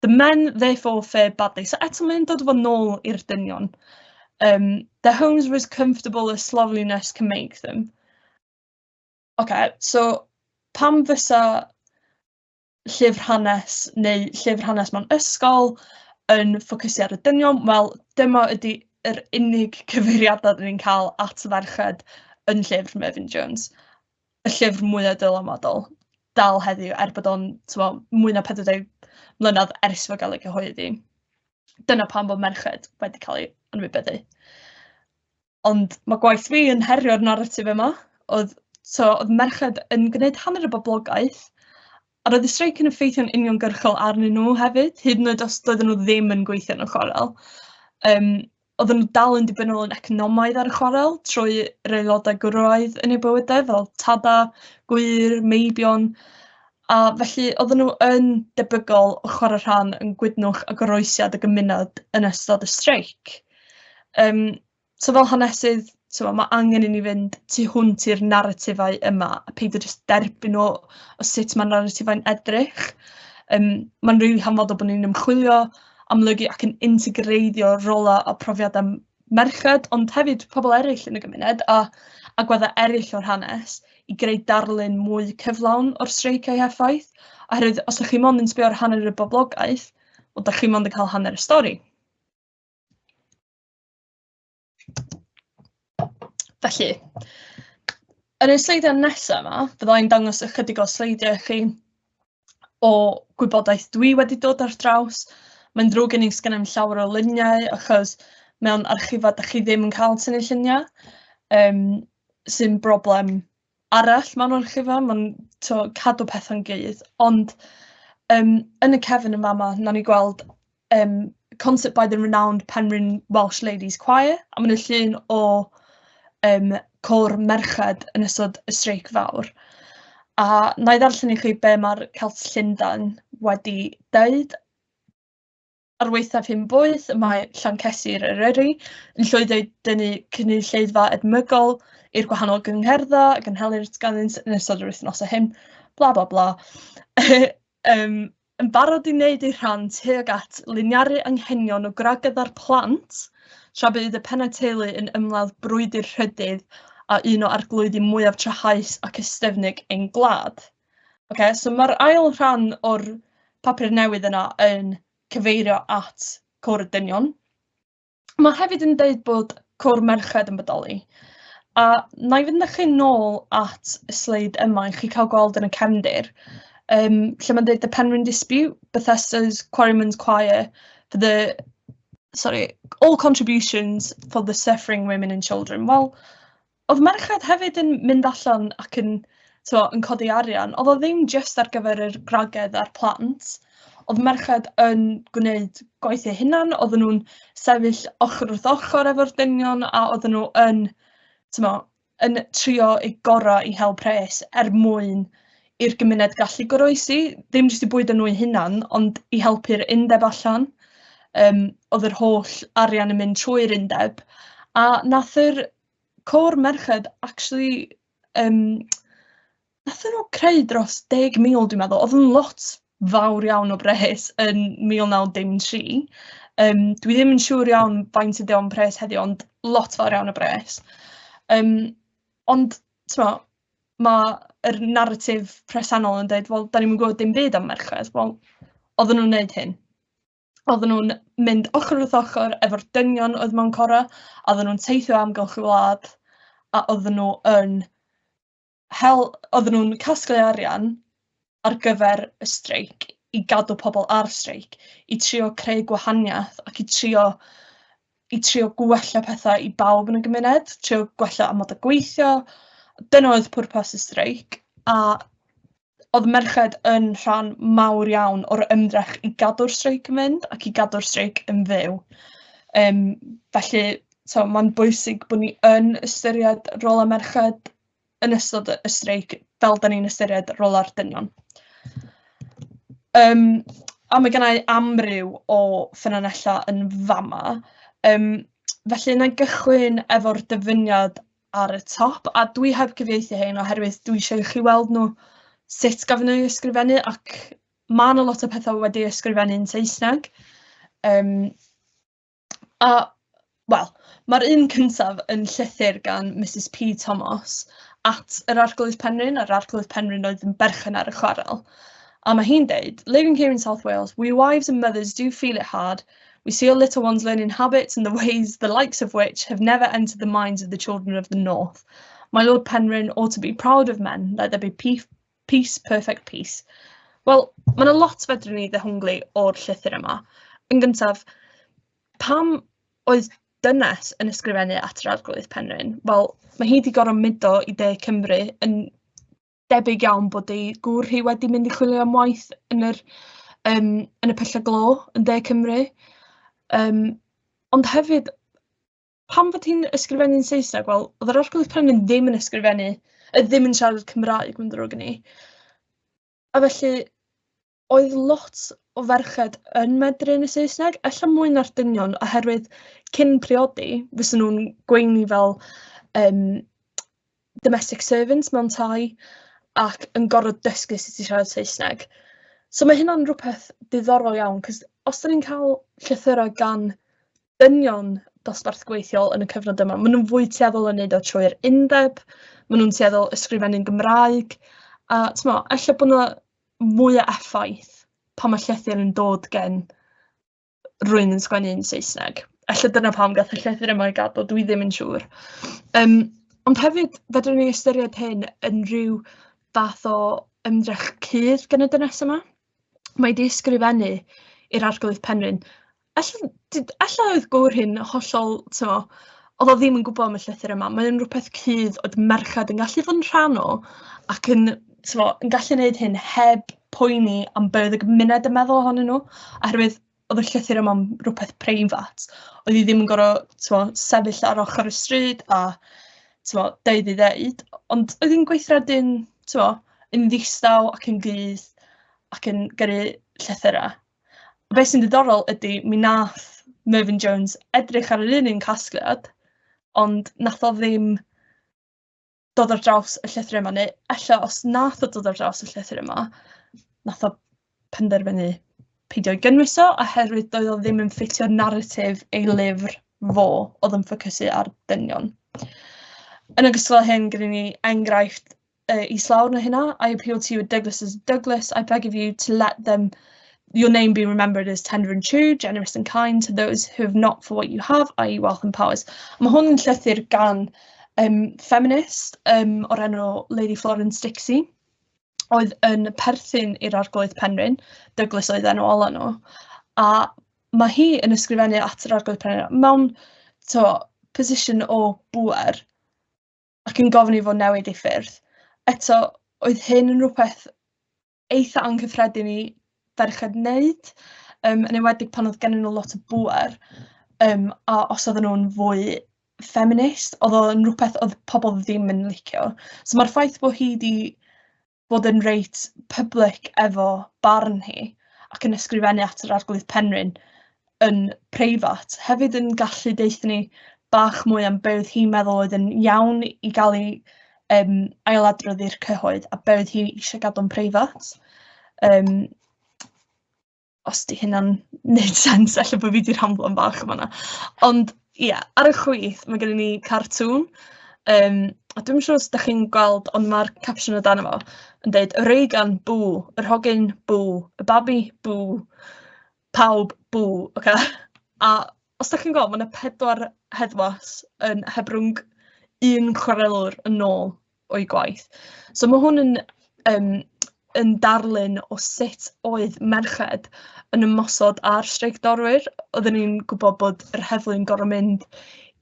The men therefore fared badly. So eto mae'n dod fo nôl i'r dynion. Um, their homes were as comfortable as slovenliness can make them. OK, so pam fysa llyfr hanes neu llyfr hanes mewn ysgol yn ffocysu ar y dynion? Wel, dyma ydy yr unig cyfeiriadau dyn ni'n cael at ferched yn llyfr Mervyn Jones. y llyfr mwya dylanwadol dal heddiw, er bod o'n, tibod, mwy na 40 mlynedd ers fo gael ei gyhoeddi. Dyna pam bod merched wedi cael ei anwybyddu. Ond mae gwaith fi yn herio'r naratif yma, oedd, so, oedd merched yn gwneud hanner y boblogaeth, A roedd y streic yn effeithio'n uniongyrchol arnyn nhw hefyd, hyd yn oed os doedden nhw ddim yn gweithio yn y chwarel. Um, oedden nhw dal yn dibynol yn economaidd ar y chwarel trwy yr aelodau gwraidd yn eu bywydau fel tada, gwyr, meibion, a felly oedden nhw yn debygol o chwarae rhan yn gwydnwch a goroesiad y gymuned yn ystod y streic. Um, So fel hanesydd, so mae angen i ni fynd tu hwnt i'r naratifau yma, a peidio jyst derbyn o, o sut mae naratifau'n edrych. Um, Mae'n rili really hanfodol bod ni'n ymchwilio, amlygu ac yn integreiddio rolau a profiadau merched, ond hefyd pobl eraill yn y gymuned a agweddau eraill o'r hanes i greu darlun mwy cyflawn o'r streic a'i heffaith, oherwydd os ydych chi mond yn sbio ar hanner y boblogaeth, wel, ydych chi mond yn cael hanner y stori. Felly, yn y sleidiau nesaf yma, bydda i'n dangos ychydig o sleidiau i chi o gwybodaeth dwi wedi dod ar draws. Mae'n ddrwg gen i sgan i'm llawer o luniau achos mewn archifau dach chi ddim yn cael tynnu lluniau, um, sy'n broblem arall mewn olygfa, mae'n to cadw pethau'n gydd, ond um, yn y cefn yma yma, na ni gweld um, concert by the renowned Penrhyn Welsh Ladies Choir, a mae'n llun o um, cor merched yn ystod y streic fawr. A na i ddarllen i chi be mae'r Celts Llundain wedi dweud. Ar waethaf hyn boeth, y mae Llancesir Eryri yn llwyddo i dynnu cynulleidfa edmygol i'r gwahanol gyngherddau a gynhelir ganddynt yn ystod yr wythnosau hyn, bla bla bla. um, yn barod i wneud ei rhan tuag at liniaru anghenion o gragydda'r plant, tra bydd y pennau teulu yn ymladd brwydr rhydydd a un o arglwyddi mwyaf trahaus ac ystefnig ein gwlad. Ocê, so mae'r ail rhan o'r papur newydd yna yn cyfeirio at Côr y Dynion. Mae hefyd yn dweud bod Côr Merched yn bodoli. A na i fynd â chi nôl at y sleid yma i chi cael gweld yn y cefndir, um, lle mae'n dweud The Penrhyn Dispute, Bethesda's Quarryman's Choir, for the, sorry, all contributions for the suffering women and children. Wel, Oedd merched hefyd yn mynd allan ac yn, tibod, yn codi arian. Oedd o ddim jyst ar gyfer yr gwragedd a'r plant. Oedd merched yn gwneud gwaith eu hunan, oedden nhw'n sefyll ochr wrth ochr efo'r dynion a oedden nhw yn, tibod, yn trio eu gorau i hel pres er mwyn i'r gymuned gallu goroesi, ddim jyst i bwydo nhw eu hunan, ond i helpu'r undeb allan. Um, oedd yr holl arian yn mynd trwy'r undeb. A nath yr Côr merched actually yym nathon nhw creu dros 10,000 dwi'n meddwl, oedd yn lot fawr iawn o bres yn 1993. Yym dwi ddim yn siŵr iawn faint ydy o'n pres heddiw ond lot fawr iawn o bres. Yym ond timod, ma' yr naratif presennol yn deud wel 'dan ni'm yn gwbod dim byd am merched, wel oedden nhw'n wneud hyn. oedden nhw'n mynd ochr wrth ochr efo'r dynion oedd mewn cora, a oedden nhw'n teithio amgylch y wlad, a oedden nhw yn hel, oedden nhw'n casglu arian ar gyfer y streic i gadw pobl ar streic, i trio creu gwahaniaeth ac i trio i trio gwella pethau i bawb yn y gymuned, trio gwella amod y gweithio. Dyna oedd pwrpas y streic a Oedd merched yn rhan mawr iawn o'r ymdrech i gadw'r streic yn mynd ac i gadw'r streic yn fyw. Um, felly, so, mae'n bwysig bod ni yn ystyried rôl y merched yn ystod y streic fel da ni'n ystyried rôl ar dynion. Um, a mae gennau amryw o ffynonellau yn fama. Um, felly, yna gychwyn efo'r dyfyniad ar y top a dwi heb gyfieithu hein oherwydd dwi eisiau i chi weld nhw sut gafon nhw ei ysgrifennu ac mae yna lot o pethau wedi ei ysgrifennu yn Saesneg. Um, a, wel, mae'r un cyntaf yn llythyr gan Mrs P Thomas at yr Arglwydd Penrhyn, a'r Arglwydd Penrhyn oedd yn berchen ar y chwarel. A mae hi'n deud, living here in South Wales, we wives and mothers do feel it hard We see our little ones learning habits and the ways the likes of which have never entered the minds of the children of the north. My Lord Penrhyn ought to be proud of men, let there be peace, peace perfect peace. Wel, mae yna lot fedrwn ni ddehongli o'r llythyr yma. Yn gyntaf, pam oedd dynes yn ysgrifennu at yr Arglwydd Penrhyn? Wel, mae hi wedi gorfod mudo i de Cymru yn debyg iawn bod ei gŵr hi wedi mynd i chwilio am waith yn yr yym yn y pylle glo yn De Cymru. Yym ond hefyd pam fod hi'n ysgrifennu'n Saesneg? Wel, oedd yr Arglwydd Penrhyn ddim yn ysgrifennu, yy, ddim yn siarad Cymraeg, mae'n ddrwg gen i. A felly, oedd lot o ferched yn medru yn y Saesneg, ella mwy na'r dynion, oherwydd cyn priodi, fysa nhw'n gweini fel yym domestic servants mewn tai ac yn gorfod dysgu sut i siarad Saesneg. So mae hynna'n rywbeth diddorol iawn, cos os 'dan ni'n cael llythyrau gan dynion dosbarth gweithiol yn y cyfnod yma, maen nhw'n fwy tueddol o wneud o trwy'r undeb, maen nhw'n tueddol ysgrifennu'n Gymraeg, a timod, ella bod 'na mwy o effaith pan mae llythyr yn dod gen rywun yn sgwennu yn Saesneg. Ella dyna pam gaeth y llythyr yma ei gadw, dwi ddim yn siŵr. Yym, ond hefyd fedrwn ni ystyried hyn yn rhyw fath o ymdrech cudd gan y dynes yma. Mae 'di ysgrifennu i'r Arglwydd Penrhyn. Ella d- ella oedd gŵr hi'n hollol, tibod, oedd o ddim yn gwybod am y llythyr yma. Mae o'n rywbeth cudd oedd merched yn gallu fod yn rhan o ac yn, tibod, yn gallu gwneud hyn heb poeni am be oedd y gymuned yn meddwl ohonyn nhw, oherwydd oedd y llythyr yma'n rhywbeth preifat. Oedd hi ddim yn gorfod, tibod, sefyll ar ochr y stryd a, tibod, deud ei ddeud, ond oedd hi'n gweithredu'n, tibod, yn ddistaw ac yn gudd ac yn gyrru llythyrau. Be sy'n ddiddorol ydy mi nath Mervyn Jones edrych ar yr un un casgliad ond nath o ddim dod ar draws y llythyr yma neu ella os nath o dod ar draws y llythyr yma nath o penderfynu peidio ei gynnwys o oherwydd doedd o ddim yn ffitio naratif ei lyfr fo oedd yn ffocysu ar dynion. Yn ogystal â hyn gyda ni enghraifft uh, i slawr na hynna. I appeal to you at Douglas as Douglas. I beg of you to let them your name be remembered as tender and true, generous and kind to those who have not for what you have, i.e. wealth and powers. Mae hwn yn llythyr gan um, feminist um, o'r enw Lady Florence Dixie, oedd yn perthyn i'r arglwydd Penryn, Douglas oedd enw ola nhw, a mae hi yn ysgrifennu at yr arglwydd Penryn mewn to, position o bwer, ac yn gofyn i fo newid ei ffyrdd. Eto, oedd hyn yn rhywbeth eitha anghyffredin i ferched wneud, yym, yn enwedig pan oedd gennyn nhw lot o bŵer, yym, a os oedden nhw'n fwy ffeminist, oedd o'n rhywbeth oedd pobl ddim yn licio. So mae'r ffaith bod hi 'di fod yn reit public efo barn hi ac yn ysgrifennu at yr Arglwydd Penrhyn yn preifat, hefyd yn gallu deuthyn ni bach mwy am be oedd hi'n meddwl oedd yn iawn i gael ei um, ailadrodd i'r cyhoedd a be oedd hi eisiau gadw'n preifat. Um, Os 'di hynna'n wneud sens, ella bod fi 'di rhamblan bach yn fan'na. Ond ia, ar y chwith ma' gennyn ni cartŵn, yym, a dwi'm yn siŵr os dach chi'n gweld, ond ma'r caption o dano fo yn deud "Reigan Bŵ, yr hogyn Bŵ, y babi Bŵ, pawb Bŵ". Ocê a os dach chi'n gweld, ma' 'na pedwar heddwas yn hebrwng un chwarelwr yn ôl. o'u gwaith. So mae hwn yn yym yn darlun o sut oedd merched yn ymosod ar streicdorwyr. Oedden ni'n gwybod bod yr heddlu'n gorfod mynd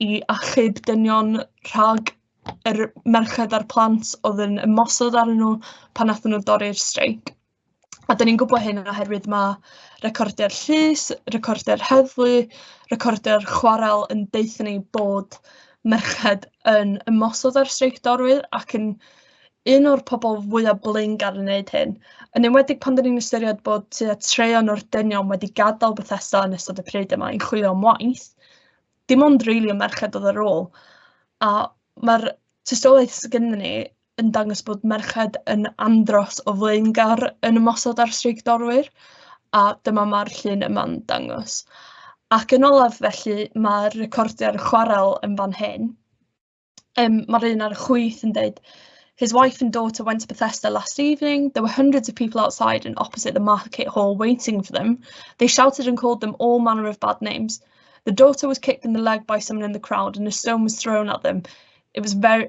i achub dynion rhag yr merched a'r plant oedd yn ymosod arnyn nhw pan wnaethon nhw dorri'r streic. A dan ni'n gwybod hyn oherwydd ma' recordiau'r llys, recordiau'r heddlu, recordiau'r chwarel yn deutha ni bod merched yn ymosod ar streic dorwyr ac yn un o'r pobl fwyaf blaengar yn wneud hyn, yn enwedig pan dan ni'n ystyried bod tua traean o'r dynion wedi gadael Bethesda yn ystod y pryd yma i chwilio am waith, dim ond rili y merched oedd ar ôl, a ma'r tystiolaeth sy gennyn ni... yn dangos bod merched yn andros o flaengar yn ymosod ar streic dorwyr, a dyma mae'r llun yma'n dangos. Ac yn olaf felly, mae'r recordiau'r chwarel yn fan hyn. Um, mae'r un ar y chwyth yn dweud, His wife and daughter went to Bethesda last evening. There were hundreds of people outside and opposite the market hall waiting for them. They shouted and called them all manner of bad names. The daughter was kicked in the leg by someone in the crowd and a stone was thrown at them. It was very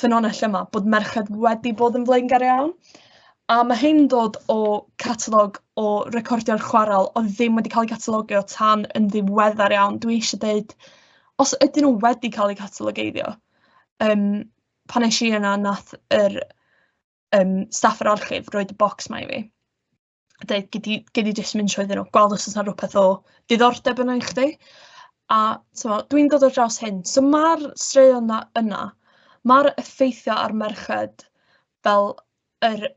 ffynhonnell yma bod merched wedi bod yn flaengar iawn, a ma' hyn yn dod o catalog o recordion chwarel o'dd ddim wedi ca'l 'u catalogio tan yn ddiweddar iawn, dwi eisie deud os ydyn nw wedi ca'l 'u catalogeiddio yym pan esh i yna nath yr yym staff yr archif roid y bocs 'ma i fi. deud gei di gei di jyst mynd trwyddyn nhw, gweld os oes 'na rywbeth o diddordeb ynddo i chdi, a timod dwi'n dod ar draws hyn. So ma'r straeon 'na yna, ma'r effeithiau ar merched fel yr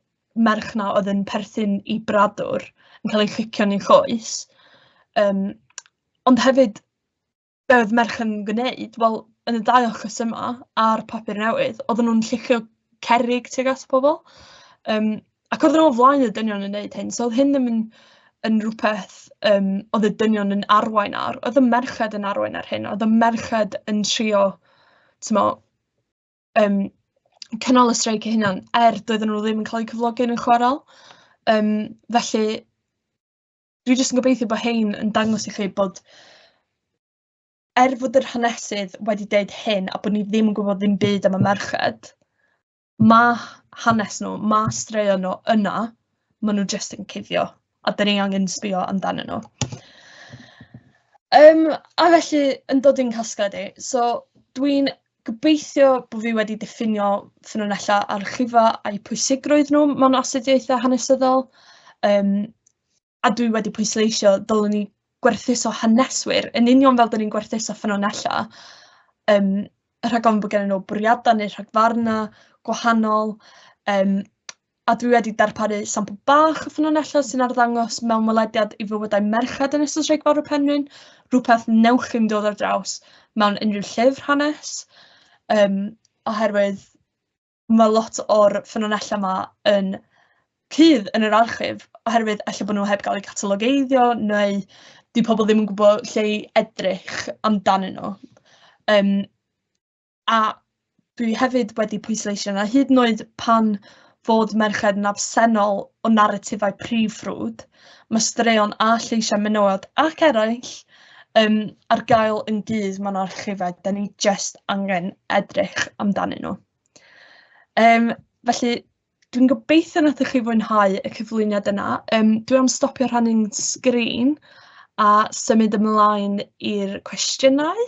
merch 'na oedd yn perthyn i bradwr yn cael ei fflicio'n ei choes, yym ond hefyd... be oedd merch yn gwneud? Wel, yn y dau achos yma a'r papur newydd, oedden nhw'n llygio cerrig tuag at pobl, yym, ac oedden nhw o flaen y dynion yn wneud hyn, so oedd hyn ddim yn yn rywbeth yym oedd y dynion yn arwain ar, oedd y merched yn arwain ar hyn, oedd y merched yn trio, timod, yym cynnal y streic eu hunain, er doedden nhw ddim yn cael eu cyflogi yn y chwarel. Yym, felly... dwi jyst yn gobeithio bod rhein yn dangos i chi bod er fod yr hanesydd wedi deud hyn a bod ni ddim yn gwybod ddim byd am y merched, mae hanes nhw, mae straeon nhw yna, maen nhw jyst yn cuddio a dyn ni angen sbio amdanyn nhw. Um, a felly, yn dod i'n casgliad i, so dwi'n Gobeithio bod fi wedi diffinio ffynonellau archifo a'u pwysigrwydd nhw mewn astudiaethau hanesyddol, yym, a dwi wedi pwysleisio dylwn ni gwerthuso haneswyr yn union fel 'da ni'n gwerthuso ffynonellau, yym, rhag ofn bod gennyn nhw bwriadau neu rhagfarnau gwahanol, yym, a dwi wedi darparu sampl bach o ffynonellau sy'n arddangos mewn welediad i fywydau merched yn ystod Sraig Fawr y Penrhyn, rhywbeth newch chi'm dod ar draws mewn unrhyw llyfr hanes, um, oherwydd mae lot o'r ffynonellau yma yn cydd yn yr archif, oherwydd efallai bod nhw heb gael eu catalogeiddio, neu di pobl ddim yn gwybod lle i edrych amdanyn nhw. Um, A dwi hefyd wedi pwysleisio 'na hyd yn oed pan fod merched yn absennol o naratifau prif ffrwd, mae straeon a lleisiau menywod ac eraill um, ar gael yn dydd mewn archifau, da ni just angen edrych amdanyn nhw. Um, felly, dwi'n gobeithio nad ydych chi fwynhau y cyflwyniad yna. Um, dwi am stopio rhannu'n sgrin a symud ymlaen i'r cwestiynau.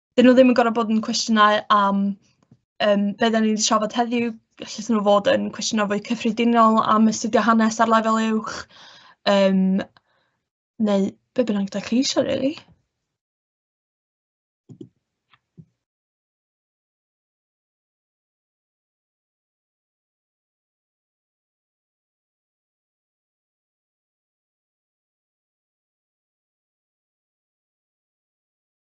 'dyn nhw ddim yn gorfod bod yn cwestiynau am yym be dan ni 'di trafod heddiw, gallen nhw fod yn cwestiynau fwy cyffredinol am astudio hanes ar lefel uwch yym neu be bynnag dach chi isio rili.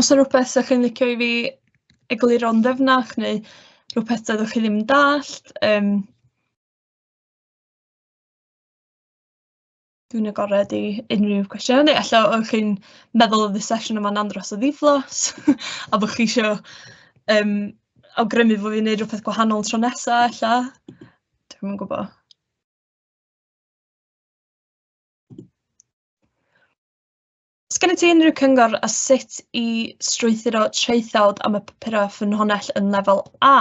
Os 'na rywbeth 'sa chi'n licio i fi egluro'n ddyfnach neu rywbeth doeddech chi ddim yn dallt yym dwi'n agored i unrhyw cwestiynau neu ella o'ch chi'n meddwl oedd y sesiwn yma'n andros o ddiflas a bo' chi isio yym awgrymu bo' fi'n wneud rywbeth gwahanol tro nesa ella, dwi'm yn gwbo. Sgennyt ti unrhyw cyngor ar sut i strwythuro traethawd am y papurau ffynhonnell yn Lefel A?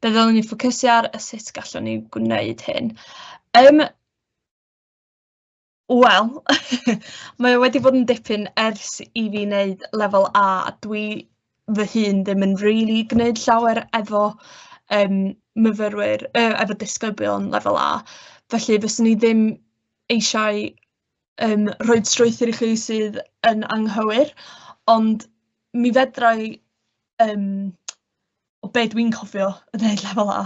Be ddylwn ni ffocysu ar a sut gallwn ni gwneud hyn? Yym wel mae o wedi bod yn dipyn ers i fi wneud Lefel A a dwi fy hun ddim yn rili gwneud llawer efo yym myfyrwyr yy efo disgyblion Lefel A, felly fyswn i ddim eisiau... yym rhoi strwythur i chi sydd yn anghywir, ond mi fedra i yym o be dwi'n cofio yn neud lefel A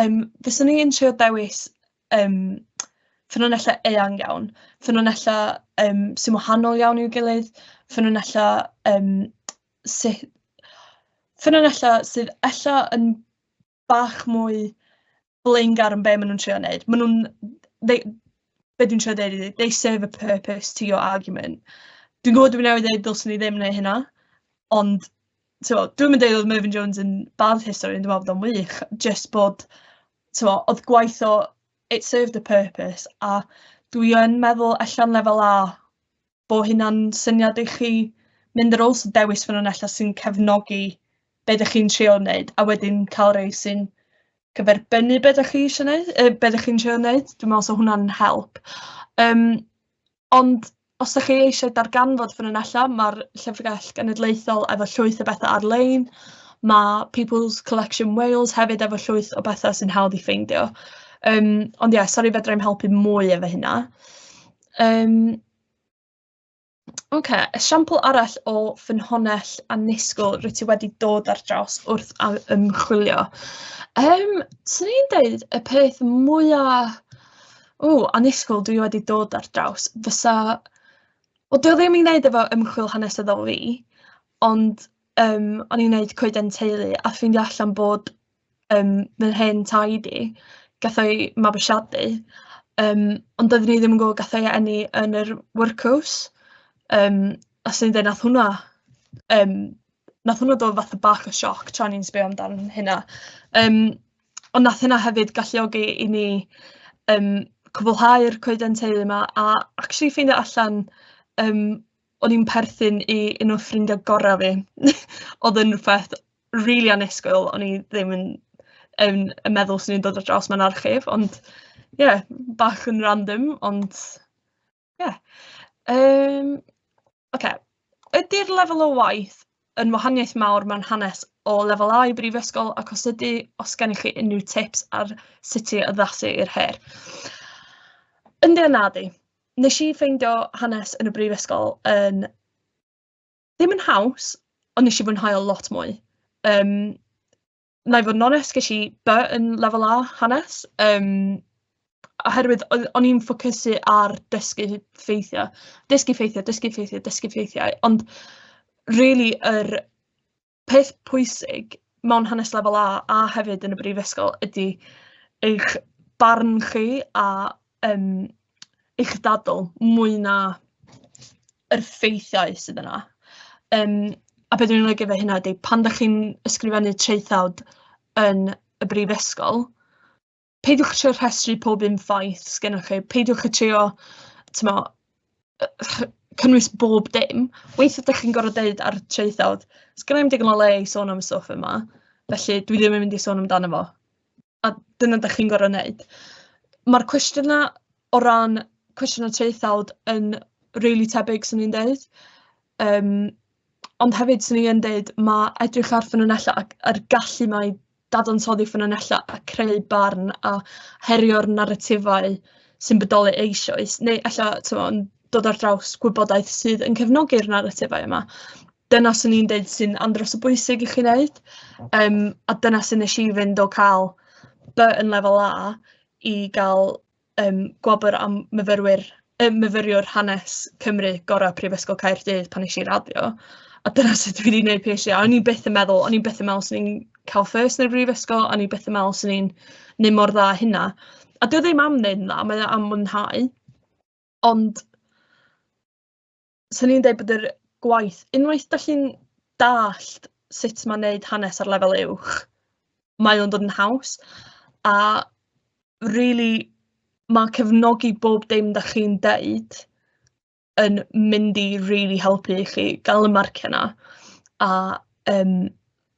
yym fyswn i'n trio dewis yym ffynonellau eang iawn, ffynonellau yym sy'n wahanol iawn i'w gilydd, ffynonellau yym sy- ffynonellau sydd ella yn bach mwy blaengar yn be maen nhw'n trio wneud. Maen nhw'n... They, be dwi'n trio dweud ydy, they serve a purpose to your argument. Dwi'n gwybod dwi'n newid dweud dylswn i ddim neu hynna, ond so, dwi'n mynd dweud oedd Mervyn Jones yn bad history, dwi'n meddwl bod o'n wych, just bod, so, oedd gwaith o, it served a purpose, a dwi yn meddwl allan lefel A, bo hynna'n syniad i chi mynd ar ôl so dewis ffynonellau sy'n cefnogi be dych chi'n trio wneud a wedyn cael rhai sy'n cyferbynnu be dych chi eisiau wneud, yy be dych chi'n trio wneud, dwi'n meddwl 'sa hwnna'n help. Yym ond os dych chi eisiau darganfod ffynonellau ma'r Llyfrgell Genedlaethol efo llwyth o bethau ar-lein, ma' People's Collection Wales hefyd efo llwyth o bethau sy'n hawdd i ffeindio yym ond ie sori fedra i'm helpu mwy efo hynna. Yym ocê esiampl arall o ffynhonnell annisgwyl rwyt ti wedi dod ar draws wrth a- ymchwilio? Yym 'swn i'n deud y peth mwya ww annisgwyl dwi wedi dod ar draws fysa... wel 'di o ddim i wneud efo ymchwil hanesyddol fi ond yym o'n i'n wneud coeden teulu a ffeindio allan bod yym fel hen tai di, gath o'i mabwysiadu, yym, ond doeddwn i ddim yn gwbod gath o'i eni yn yr workhouse, yym, a 'swn i'n deud wnaeth hwnna yym wnaeth hwnna dod fatha bach o sioc tra o'n i'n sbio amdan hynna, yym, ond wnaeth hynna hefyd galluogi i ni yym cwblhau'r coeden teulu 'ma a acshyli ffeindio allan yym o'n i'n perthyn i un o ffrindia gora fi. Oedd yn rhywbeth rili annisgwyl, o'n i ddim yn yn yn meddwl 'swn i'n dod ar draws mewn archif, ond ie, bach yn random, ond ie. Yym ocê, ydy'r lefel o waith yn wahaniaeth mawr mewn hanes o lefel A i brifysgol, ac os ydy, os gennych chi unrhyw tips ar sut i addasu i'r her? Yndi a nadi. Wnes i ffeindio hanes yn y brifysgol yn... ddim yn haws, ond wnes i fwynhau o lot mwy. Yym, wna i fod yn onest, ges i B yn Lefel A hanes, yym, oherwydd oedd... o'n i'n ffocysu ar dysgu ffeithiau, dysgu ffeithiau, dysgu ffeithiau, dysgu ffeithiau, ond rili yr... peth pwysig mewn hanes lefel A a hefyd yn y brifysgol ydy eich barn chi a yym eich dadl mwy na yr ffeithiau sydd yna. Yym a be dwi'n ei olygu efo hynna ydy pan dach chi'n ysgrifennu traethawd yn y brifysgol... peidiwch trio rhestru pob un ffaith sy gennych chi, peidiwch â trio timod yy cynnwys bob dim. Weithiau dach chi'n gorfod deud ar y traethawd, "sgenna i'm digon o le i sôn am y stwff yma, felly dwi ddim yn mynd i sôn amdano fo", a dyna dach chi'n gorfod wneud. Ma'r cwestiynau o ran cwestiynau traethawd yn rili tebyg 'swn i'n deud, yym ond hefyd 'swn i yn deud ma' edrych ar ffynonellau ac a'r gallu 'ma i dadansoddi ffynonellau a creu barn a herio'r naratifau sy'n bodoli eisoes, neu ella timod yn dod ar draws gwybodaeth sydd yn cefnogi'r naratifau yma. Dyna 'swn i'n deud sy'n andros o bwysig i chi wneud, yym a dyna sut wnes i fynd o cael B yn lefel A i gael yym gwobr am myfyrwyr yym myfyriwr hanes Cymru gorau Prifysgol Caerdydd pan wnes i raddio a dyna sut dwi 'di wneud PhD a o'n i byth yn meddwl o'n i byth yn meddwl 'swn i'n cael first yn y brifysgol o'n i byth yn meddwl 'swn i'n wneud mor dda a hynna a 'di o ddim am wneud yn dda mae o am mwynhau ond 'swn i'n deud bod yr gwaith... unwaith dach chi'n dallt sut ma' wneud hanes ar lefel uwch, mae o'n dod yn haws, a rili ma' cefnogi bob dim dach chi'n deud yn mynd i rili helpu chi gael y marciau 'na, a yym...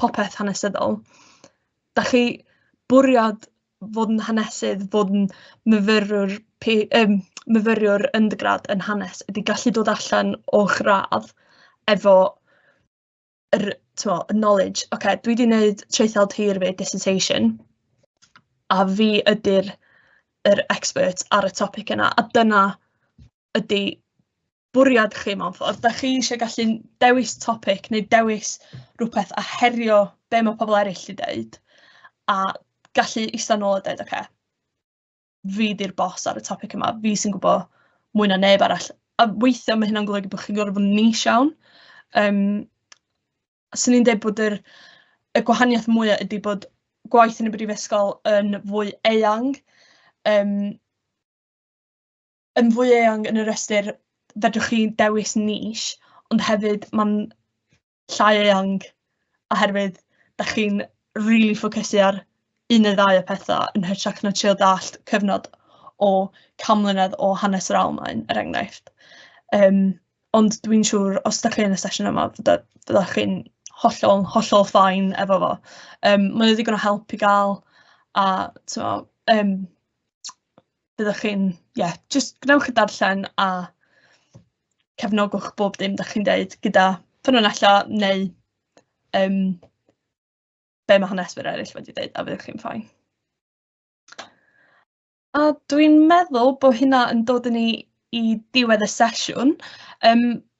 popeth hanesyddol. Dach chi bwriad fod yn hanesydd, fod yn myfyrwr P- yym myfyriwr undergrad yn hanes ydy gallu dod allan o'ch radd efo yr t'mo' y knowledge ok dwi 'di neud traethawd hir fi dissertation a fi ydy'r yr expert ar y topic yna a dyna ydy bwriad chi mewn ffordd. Dach chi eisiau gallu dewis topic neu dewis rhywbeth a herio be mae pobl eraill wedi dweud a gallu eistedd nôl a dweud, oce, okay, fi di'r bos ar y topic yma, fi sy'n gwybod mwy na neb arall. A weithiau mae hynna'n golygu bod chi'n gorfod bod yn nis iawn. Um, Swn i'n dweud bod yr, y gwahaniaeth mwyaf ydy bod gwaith yn y brifysgol yn fwy eang. Um, yn fwy eang yn yr ystyr fedrwch chi dewis niche, ond hefyd mae'n llai eang oherwydd da chi'n rili really ffocysu ar un neu ddau o pethau yn hytrach na trio dallt cyfnod o cam mlynedd o hanes yr Almaen, er enghraifft. Um, ond dwi'n siŵr, os da chi yn y sesiwn yma, fydda chi'n hollol, hollol ffain efo fo. Um, mae'n ddigon o help i gael a um, byddwch chi'n, ie, jyst gwnewch y darllen a cefnogwch bob dim dach chi'n deud gyda ffynonellau neu um, be mae haneswyr eraill wedi dweud a fyddwch chi'n ffain. A dwi'n meddwl bod hynna yn dod yn ni i diwedd y sesiwn. Um,